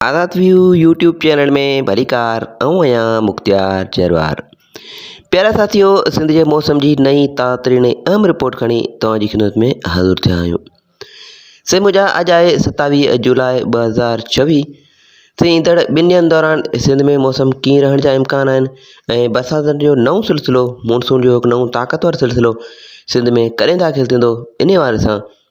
آزاد ويو YouTube channel ۾ ڀليڪار آئون آهيان مختيار جروار پيارا ساٿيو سنڌ جي موسم جي نئين تاترين ۽ اهم رپورٽ کڻي توهان جي خدمت ۾ حاضر ٿيا آهيون سي مجا اڄ آهي ستاويهه جولاء ٻه هزار ڇويهه سي ايندڙ ٻن ڏينهن دوران سنڌ ۾ موسم ڪيئن رهڻ جا امڪان آهن ۽ برساتن جو نئون سلسلو مونسون جو هڪ نئون طاقتور سلسلو سنڌ ۾ ڪڏهن داخل ٿيندو ان حوالي سان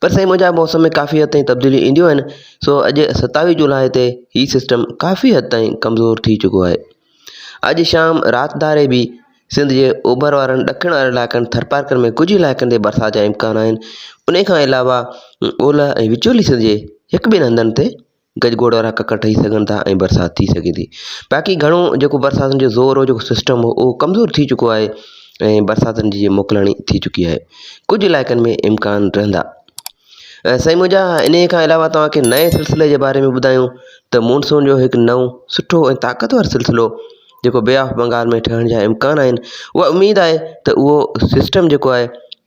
پر سائين منهنجا موسم ۾ ڪافي حد تائين تبديليون اينديون آهن سو اڄ ستاويهه جولاء تي هي سسٽم ڪافي حد تائين ڪمزور ٿي چڪو آهي اڄ شام رات ڌاري به سنڌ جي اوڀر وارن ڏکڻ وارن علائقن ٿرپارڪر ۾ ڪجهه علائقن تي برسات جا امڪان آهن ان کان علاوه اولهه ۽ وچولي سنڌ جي هڪ ٻن هنڌن تي گجگوڙ وارا ڪڪر ٺهي سگهن ٿا ۽ برسات ٿي سگهي ٿي باقي گهڻو جيڪو برساتن جو زور هو جيڪو سسٽم هو اهو ڪمزور ٿي چڪو آهي ۽ برساتن جي موڪلاڻي ٿي چڪي آهي ڪجهه علائقن ۾ امڪان رهندا ۽ سائين منهنجا ان کان علاوه توهانکي نئين سلسلي جي باري ۾ ٻڌايون ته مونسون جو هڪ نئون سٺو ۽ طاقتور سلسلو جيڪو بي آف بنگال ۾ ٺهڻ جا امڪان آهن اها اميد آهي ته اهو سسٽم جيڪو آهي